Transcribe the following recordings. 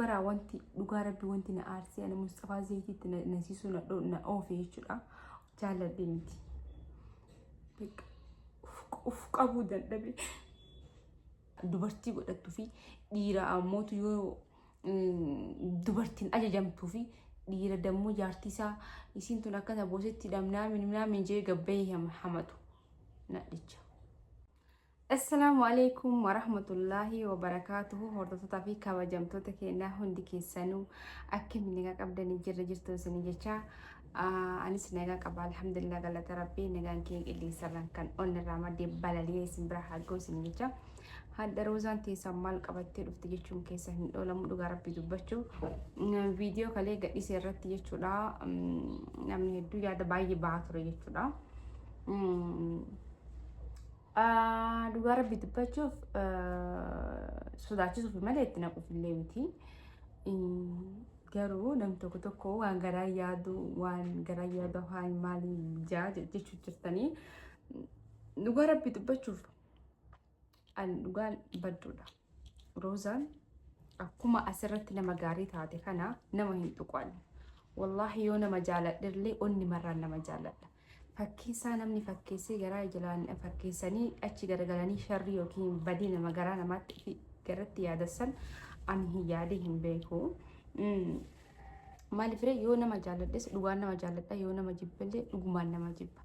Baraa wanti dhugaa rabbi wanti na aarsee ani Musxafaa Zayitiitti na nasiisuu na dho- na oofe jechuudha. Jaalladhe miti. Beekaa. Uf- Uf qabuu dadhabe. Dubartii godhattuu fi dhiira ammootu yoo mm, dubartiin ajajamtuu fi dhiira dammoo jaartii isaa isiin tun akkana boosetti dhamnaamin minaamin jee gabbayee hama- hamatu. Nadhicha. Assalaamu alaikum warahmatullaahi wabarakaatuhu hordoftoota fi kabajamtoota keenyaa hundi keessanuu akkami nagaa qabdanii jirra jirtu isinii jecha anis nagaa qaba alhamdulillah galata rabbii nagaan kee qilleensarraan kan onnirraa maddee balali'ee isin bira haa ga'u isinii jecha hadda roozaan teessan maal qabattee dhufte jechuun keessa hin dhoolamu dhugaa rabbii dubbachuu viidiyoo kalee gadhiise irratti jechuudha namni hedduu yaada baay'ee ba'aa ture jechuudha. Dhugaa rabbi dubbachuuf sodaachisuuf malee itti naquuf illee miti. Garuu nam tokko tokko waan garaa yaadu waan garaa yaadu afaan maalii jaa jechuu jirtanii. Dhugaa rabbi dubbachuuf an dhugaan badduudha. Roozaan akkuma asirratti nama gaarii taate kana nama hin tuqanne. Wallaahi yoo nama jaaladherlee onni marraan nama jaaladha. Fakkeessaa namni fakkeessee garaa ijalaan fakkeessanii achi garagalanii sharrii yookiin badii nama garaa namaatti fi garatti yaadassan ani hin yaadee hin beeku. Mm. Maaliifree yoo nama jaaladhes dhugaan nama jaaladha yoo nama jibballee dhugumaan nama jibba.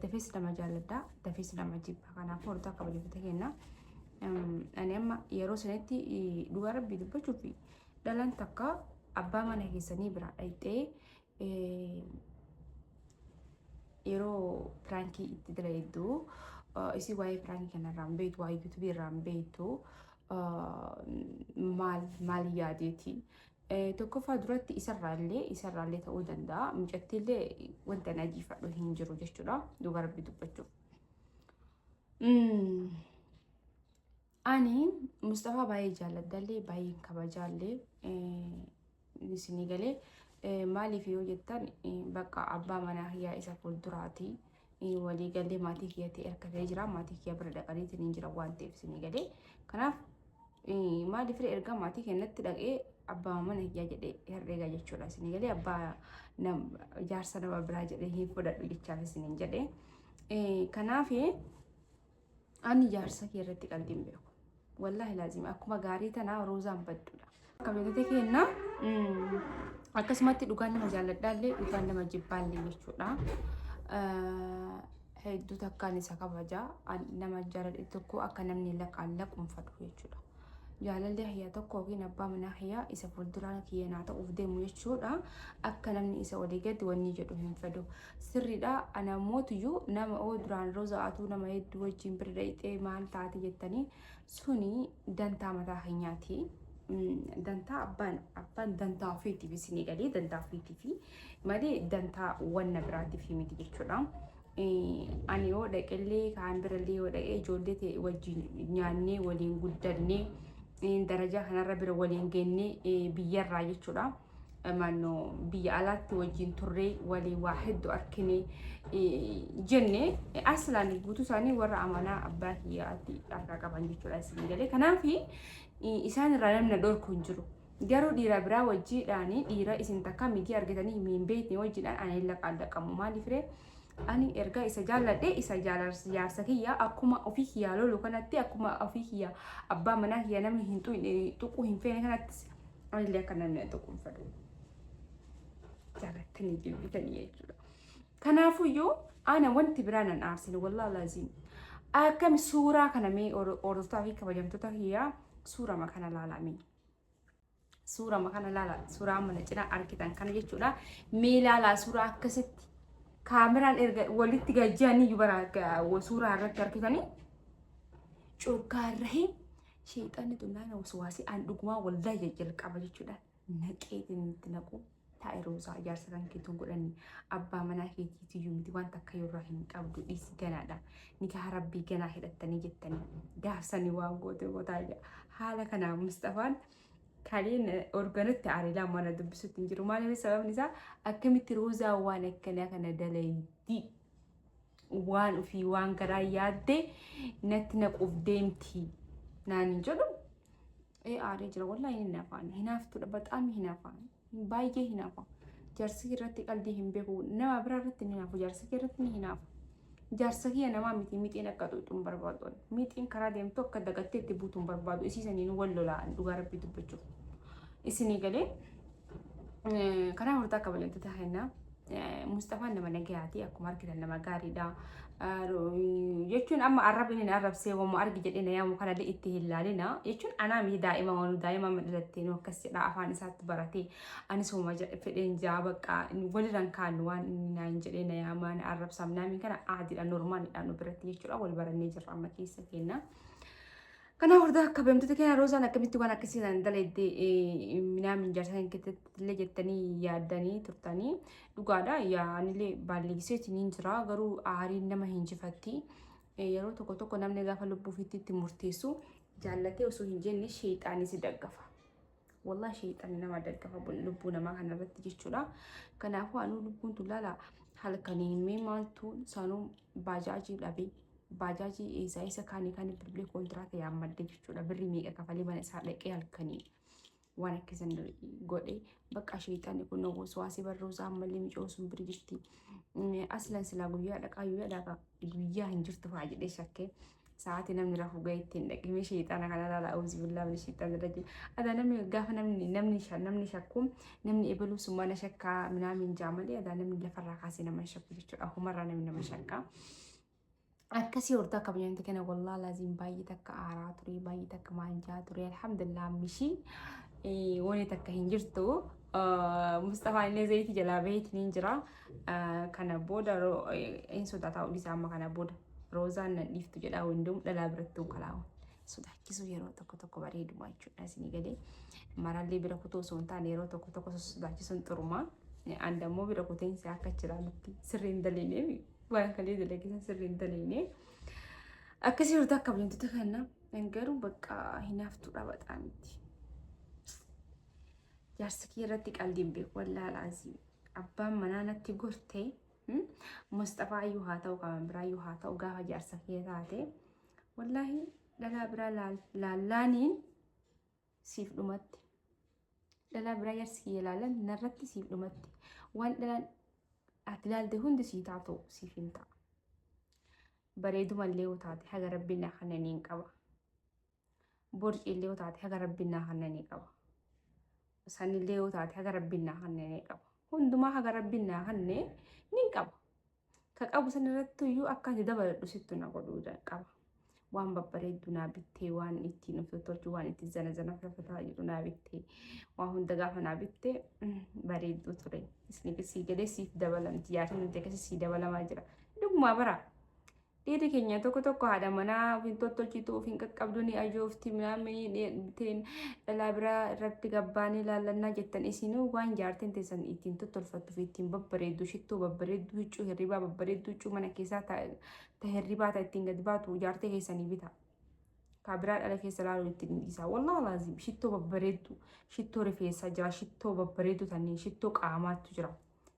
Dafee sidhama jaalladha. Dafee sidhama jibba. Kanaafuu hortaa kabajamtoota keenya. Ani amma yeroo sanitti dhugaa rabbii dubbachuuf dhalaan takka abbaa mana keessanii biraa dhayxee yeroo piraankii itti dalayiddu isii waa'ee piraankii kanarraa hin beektu waa'ee yuutubii irraa hin beektu maal maal yaadeeti Tokkoffaa duratti isarraallee isarraallee ta'uu danda'a. Mucattiillee wanta na jiifadhu hin jiru jechuudha. Dhugaa rabbi dubbachuuf. Ani Mustafaa baay'ee jaalladhallee baay'een kabajaallee isinii galee maaliif yoo jettan bakka abbaa manaa kiyyaa isa fuulduraati. walii galee maatii kiyya ta'e akka ta'e jira maatii kiyya bira dhaqanii tiniin jira waan ta'eef isinii galee kanaaf maaliif erga maatii kennatti dhaqee abbaa mana kiyyaa jedhee herreegaa jechuudha isinii galee abbaa jaarsa nama biraa jedhee hin fudhadhu jechaaf isiniin jedhee kanaaf Ani jaarsa kee irratti qalbii hin beeku. Wallaahi laazim akkuma gaarii tanaa roozaan badduudha. Kabajate keenna akkasumatti dhugaan nama jaalladhaallee dhugaan nama jibbaallee jechuudha. Hedduu takkaan isa kabaja nama jaaladhe tokko akka namni laqaan laquunfadhu jechuudha. Jaalalli kiyya tokko yookiin abbaa manaa kiyya isa fuulduraan kiyya naa ta'uuf deemu jechuudha. Akka namni isa olii gadi wanni jedhu hin fedhu. Sirriidha ana mootuyyuu nama oo duraan roza atuu nama hedduu wajjin bira dhayxee maal taate jettanii suni dantaa mataa keenyaati. Dantaa abbaan abbaan dantaa ofiitiif isinii galee dantaa ofiitiif malee dantaa wanna biraatiif miti jechuudha. Ani yoo dhaqellee kaan birallee yoo dhaqee ijoollee ta'e wajjin nyaannee waliin guddannee darajaa kanarra bira waliin geennee biyyarraa jechuudha. Maannoo biyya alaatti wajjin turree waliin waa hedduu arkinee jenne aslaan guutuu isaanii warra amanaa abbaa kiyyaatti harkaa qaban jechuudha isin galee. Kanaaf isaan irraa namni dhorku hin jiru. Garuu dhiira biraa wajjii dhaani dhiira isin takka migii argitanii himii hin beekne wajjii dhaan ani hin laqaallaqamu maaliifree ani erga isa jaalladhe isa jaalarsi jaarsa kiyya akkuma ofii kiyyaa lolu kanatti akkuma ofii kiyya abbaa manaa kiyya namni hin tuquu hin feene kanattis anillee akka namni hin tuquu hin fedhu jaalattanii jibbitanii jechuudha. Kanaafuyyuu ana wanti biraa nan aarsin wallaa laaziim akkami suuraa kana mee hordoftaa fi kabajamtoota kiyyaa suurama kana laalamee. suurama kana laala suuraa mana cina argitan kana jechuudha mee laalaa suuraa akkasitti kaameraan erga walitti gajjanii iyyuu bara suuraa irratti argitanii curgaa irra hin sheexanni tunnaan waswaasii aan dhugumaa waldaa jalqaba jechuudha naqeetiin itti naquu Taa'i Roozaa ijaarsa kan keetu godhani abbaa manaa keetii tiyyuu miti waan takka yorraa hin qabdu dhiisi ganaadha nikaha rabbii ganaa hidhattanii jettanii gaarsani waan goote gootaa jedha haala kanaa Mustafaan kaliin organutti aariilaa mana dubbisutti hin jiru maaliif sababni isaa akkamitti Roozaa waan akkanaa kana dalaydii waan ofii waan garaa yaaddee natti naquuf deemti naan hin jedhu ee aaree jira wallahi hin hinafaan hinaaftudha baxaam hinafaa baay'ee hinafaa jaarsi irratti qalbii hin beeku nama biraa irratti hin hinaafu jaarsi irratti hin hinaafu jaarsa kiyya namaa miti mixiin akka xuuxuun barbaadu mixiin karaa deemtu akka dagattee itti buutuun barbaadu isii saniin wal lola'an dhugaa rabbii dubbachuuf isinii galee karaa hortaa akka bal'attu taa'ennaa. Musxafaan nama nagayaati akkuma argitan nama gaariidha. Jechuun amma arrabni hin arrabsee waamuu argi jedhee na yaamu kana itti hin laalina. Jechuun anaa miti daa'ima waan daa'ima amma dhalattee nu akkas jedha afaan isaatti baratee anis hooma fedheen jaa bakka walirraan kaanu waan inni naan jedhee na yaamaa na arrabsaam naamiin kana aadiidha normaalidha nu biratti jechuudha wal barannee jirra amma keessa keenya. Kana hordaa akka beemtoota keenya roosaan akkamitti waan akkasii sana dalaydde minaamin jaarsan keessattillee jettanii yaaddanii turtanii dhugaadha yaanillee baalleessee isiniin jira garuu aariin nama hin jifatti yeroo tokko tokko namni gaafa lubbuufitti itti murteessu jaallatee osoo hin jenne sheexaanis daggafa. Wallah sheexanni nama daggafa lubbuu namaa kana irratti jechuudha. Kanaafuu anuu lubbuun tun laala halkanii mee maaltu saanuu baajaajii dhabe baajaajii eessaa isa kaanii kan bilbilee kontiraata yaammadde jechuudha. Birri meeqa kafalee mana isaa dhaqee halkanii waan akkasan godhe bakka sheexanni kun waasii barruu isaa ammallee micoo sun biri jirti. Aslan silaa guyyaa dhaqaa guyyaa dhaqaa guyyaa hin jirtu fa'aa jedhee shakkee. Sa'aatii namni rafu ga'e ittiin dhaqimee sheexaana kana laala awuzi billaa min sheexaana rajim. Adaa namni gaafa namni namni namni shakku namni ebaluu summaa na shakkaa minaamin jaa malee adaa namni lafarraa kaasee nama shakku jechuudha. Humarraa namni nama shakkaa. Akkasii hortaa kabajamte kana wallaa laaziin baay'ee takka aaraa ture baay'ee takka maanjaa ture alhamdulillah mishii wani takka hin jirtu. Mustafaan illee zayitii jalaa baheetiin hin jira. Kana booda hin sodaataa dhiisaa amma kana booda roozaan nan dhiiftu jedhaa hundum dhalaa birattuu kalaawa. Sodaachisuu yeroo tokko tokko bareeduma jechuudha isinii galee. Marallee bira kutuu osoo hin taane yeroo tokko tokko sodaachisuun xurumaa. An dammoo bira kuteen isaa akka jiraa nutti sirrii hin daleene waan kalee dalagisan sirrii hin daleene. Akkasii hurta akka bulintota kanna garuu bakka hinaaftuudha baxaamitti. Jaarsi kee irratti qaldiin beeku wallaalaa asii. abbaan manaa natti gortee Musxafaa iyyuu haa ta'u qaban biraa iyyuu haa ta'u gaafa jaarsa kee taate wallaahi dhalaa biraa laallaaniin siif dhumatti dhalaa biraa jaarsi kiyya laalan narratti siif dhumatti waan dhalaan ati laalte hundi sii taatu siif hin ta'a bareedumallee yoo taate haga rabbiin akkananiin qaba. borciillee yoo taate haga rabbiin naa kannanii qaba. Sanillee yoo taate haga rabbiin naa kannanii qaba. Hundumaa haga rabbiin naa kannee nin qaba. Ka qabu sanirratti iyyuu akka ati dabaladhu sittu na godhuu qaba. Waan babbareedduu naa bittee waan ittiin of tolchu waan ittiin zana zana fafataa jedhu naa bittee waan hunda gaafa naa bittee bareedduu ture. Isni sii galee siif dabalamti yaadni nuti akkasii sii dabalamaa jira. Dhugumaa baraa. Dhiirri keenya tokko tokko haadha manaa of hin tottolchitu, of hin qaqqabdu, ni ajoofti, minaaminii dheedhiteen dhalaa biraa irratti gabbaanii laallannaa jettan isinuu waan jaartiin teessan ittiin tottolfattu fi ittiin babbareeddu, shittoo babbareeddu, huccuu hirribaa babbareeddu, huccuu mana keessaa ta, ta hirribaa ta ittiin gad baatu jaartee keessanii bita. Kaa biraa dhala keessa laaluun ittiin dhiisaa. Wallah laazim shittoo babbareeddu, shittoo rifeensaa jira, shittoo babbareeddu tanneen, shittoo qaamaattu jira.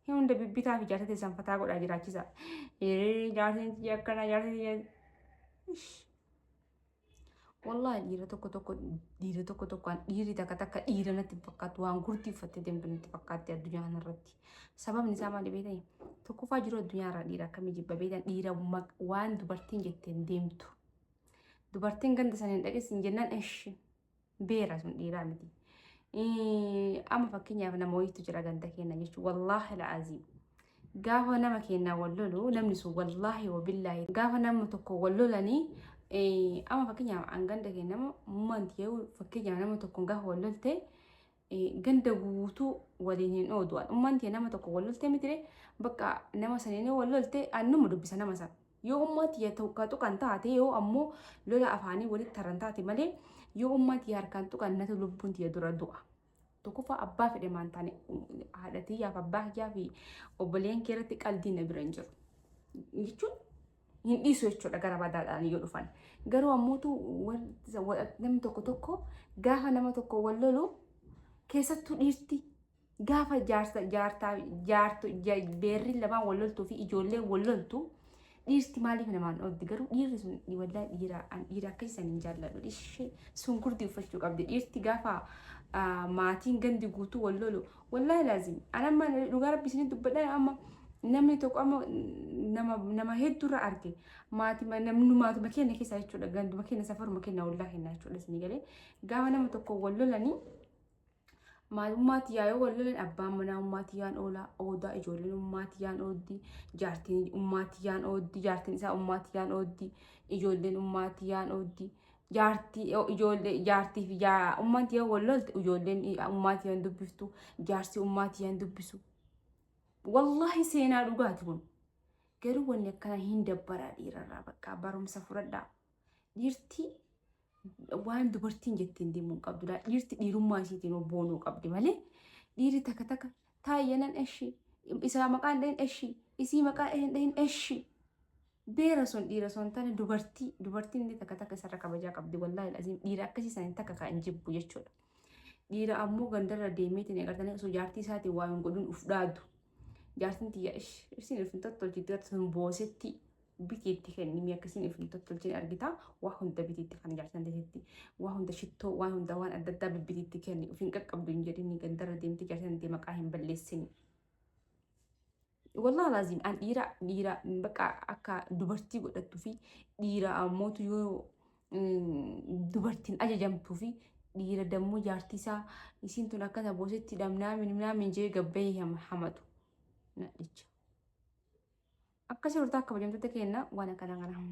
Hin hunda bibbitaa fi jaarsa teessan fataa godhaa jiraachisa. Ee jaarsin tiyya akkana jaarsin tiyya. Wallahi dhiira tokko tokko dhiira tokko tokkoon dhiirri takka takka dhiira natti hin fakkaatu waan gurtii uffattee deemtu natti fakkaatti addunyaa kanarratti. Sababni isaa maali beektan? Tokkoffaa jiru addunyaa irraa dhiira akkamii jibba beektan dhiira maq- waan dubartiin jetteen deemtu. Dubartiin ganda sana hin dhageessin jennaan eshi. beera sun dhiiraa miti. Amma fakkeenyaaf nama wayiitu jira ganda keenya jechuun wallaahi la'aazii. Gaafa nama keenyaa wal lolu namni sun wallaahi wabillaahi gaafa nama tokko wal lolanii amma fakkeenyaaf an ganda keenya nama manti yoo fakkeenyaaf nama tokko gaafa wal lolte ganda guutuu waliin hin oodu. Ummaan tee nama tokko wal lolte mitire bakka nama saniin yoo wal lolte annuma dubbisa nama san. Yoo ummaa tiyya tokko tuqan taate yoo ammoo lola afaanii walitti taran taate malee yoo ummaa tiyya harkaan tuqan natu lubbuun tiyya dura du'a. Tokkoffaa abbaa fedhe maan taane haadha tiyyaaf abbaa kiyyaa fi obboleen kee irratti qaldiin na bira hin jiru. Jechuun hin dhiisu jechuudha gara badaadhaan yoo dhufan. Garuu ammootu namni tokko tokko gaafa nama tokko wal lolu keessattuu dhiirti gaafa jaarsa jaartaa jaartu beerri lamaan wal loltuu fi ijoolleen wal loltu dhiirti maaliif namaan oolti garuu dhiirri sun waldaa dhiiraa an dhiira akka isan hin jaalladhu ishee sun gurdii uffachuu qabdi dhiirti gaafa maatiin gandi guutuu wal lolu Wallahi laazim an amma dhugaa rabbi isinit dubbadha amma namni tokko amma nama nama hedduurra arge maatima namni maatuma keenya keessaa jechuudha ganduma keenya safaruma keenya ollaa keenya jechuudha isinii galee gaafa nama tokko wal lolanii maalummaatti yaa'ee wal lolan abbaan manaa ummaatti yaan oolaa oodaa ijoolleen ummaatti yaan ooddi jaartiin ummaatti yaan ooddi jaartiin isaa ummaatti yaan ooddi ijoolleen ummaatti yaan ooddi jaartii yoo ijoollee jaartii fi jaa- ummanti yoo wal lolte ijoolleen i- ummaati yoo hin dubbiftu jaarsi ummaati yoo hin dubbisu wallahi seenaa dhugaati kun garuu wanni akkana hin dabbaraa dhiirarraa bakka barumsa fudhadhaa dhiirti waan dubartiin jettiin deemuu hin qabdu laa dhiirti dhiirummaa isiitiin obboonuu qabdi malee dhiirri takka takka taayyanan eshi isaa maqaan dhahin eshi isii maqaa dhahin dhahin eshi Beera sun dhiira son tane dubartii dubartiin illee takka takka isarra kabajaa qabdi wallaahi aziim dhiira akkasii san takka kan hin jibbu jechuudha. Dhiira ammoo gandarra deemeetiin eegartanii osoo jaartii isaatiin waa hin godhin uf dhaadu. Jaartiin tiyya ish isiin uf hin tottolchitti gata sun boosetti biti itti kennimi akkasiin uf hin tottolchin argita waa hunda biti itti kan jaartiin teesetti waa hunda shittoo waan hunda waan adda addaa bibbiti itti kenni uf hin qaqqabdu hin jedhini gandarra deemti jaartiin tee maqaa hin balleessini. Wallah laazim an dhiira dhiira bakka akka dubartii godhattu fi dhiira ammootu yoo dubartiin ajajamtuu fi dhiira dammoo jaartii isaa isiin tun akkata boosetti dhamnaamin minaamin jee gabbayee hamatu nadhicha. Akkasii hortaa akka bajamtoota keenna waan akkana kana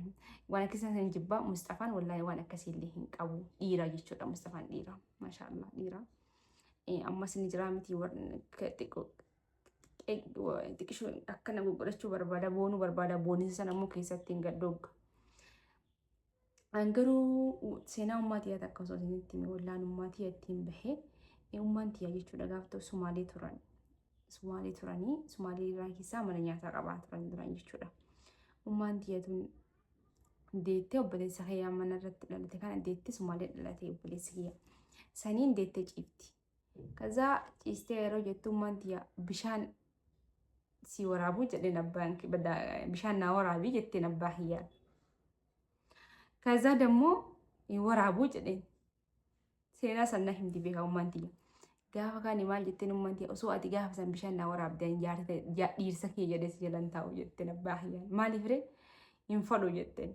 waan akkasii hin jibbaa Mustafaan wallahi waan akkasii illee hin qabu dhiira jechuudha Mustafaan dhiira maashaallah dhiira. Ammas ni jira miti xiqqoo xiqishoo akkana goggodhachuu barbaada boonuu barbaada boonisa sana immoo keessatti hin gaddoogga. An garuu seenaa ummaa tiyyaa takka osoo isinitti hime wallaan ummaa tiyya ittiin bahee ummaan tiyyaa jechuudha gaaf ta'u sumaalee turan. Sumaalee turanii sumaalee irraa keessaa mana nyaataa qabaa turan turan jechuudha. Ummaan tiyya tun deettee obboleessa kiyyaa mana irratti dhalate kana deettee sumaalee dhalate obboleessa kiyya. Saniin deettee ciifti. Kazaa ciistee yeroo jettummaan tiyya bishaan si waraabuu jedheen abbaan bishaan naa waraabii jetteen abbaa kiyyaa. Kazaa dammoo waraabuu jedheen seenaa sanna himti beekaa ummaan tiyya. Gaafa kaani maal jetteen ummaan tiyya osoo ati gaafa san bishaan naa waraabdee dhiirsa kee jedhee si jalan taa'u jetteen abbaa kiyyaa. Maaliif ree hin fadhu jetteen.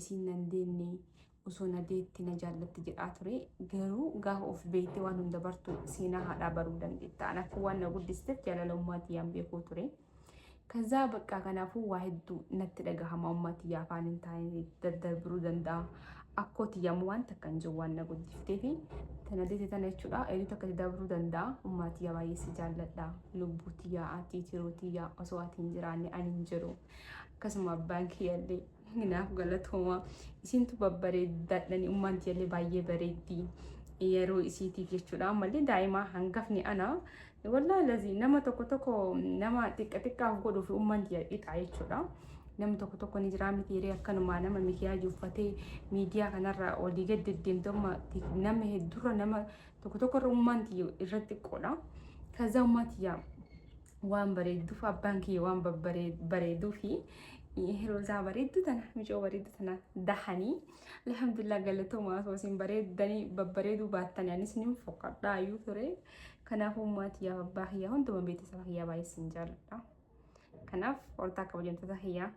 isiin nan deenne osoo na deette na jaallatti jedhaa ture garuu gaafa of beeyte waan hunda bartu seenaa haadhaa baruu dandeetta anaafuu waan na guddisiteef jaalala ummaa tiyyaan beekuu ture kazaa baqqaa kanaafuu waa hedduu natti dhagahama ummaa tiyyaa afaan hin taane daddarbiruu danda'a akkoo tiyyaamu waan takka hin jiru waan na guddifteef tana deete tana jechuudha eeyyuu takka dabruu danda'a ummaa tiyyaa baay'ee si jaalladha lubbuu tiyyaa ati tiruu tiyyaa osoo ati hin jiraanne ani hin jiru akkasuma abbaan kiyyallee Naaf galatooma. Isintu babbareeddaadhani ummaan tiyallee baay'ee bareeddi. Yeroo isiitiif jechuudha. Ammallee daa'imaa hangafni ana. Wallaahi lazii nama tokko tokko nama xiqqa xiqqaaf godhuu fi ummaan tiya dhiqaa jechuudha. Namni tokko tokko ni jiraa miti hiree akkanumaa nama mikiyaaj uffatee miidiyaa kanarra olii gad deddeemtu amma nama heddurra nama tokko tokkorra ummaan tiyya irra xiqqoodha. Kazaa ummaa tiyyaa waan bareedduuf abbaan kiyya waan bareeduufi hiroosaa bareeddu tana micoo bareeddu tana dahanii alhamdulillah galatoomaa osoo isin bareeddanii babbareeduu baattanii anis nin fokkadhaa iyyuu ture kanaafuu maatiyaaf abbaa kiyyaa hunduma beetisaba kiyyaa baay'ee isin jaalladha kanaaf hortaa kabajamtoota kiyyaa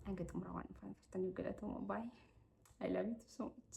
hanga xumura waan dhufan turtaniif galatoomaa baay'ee I love you so much.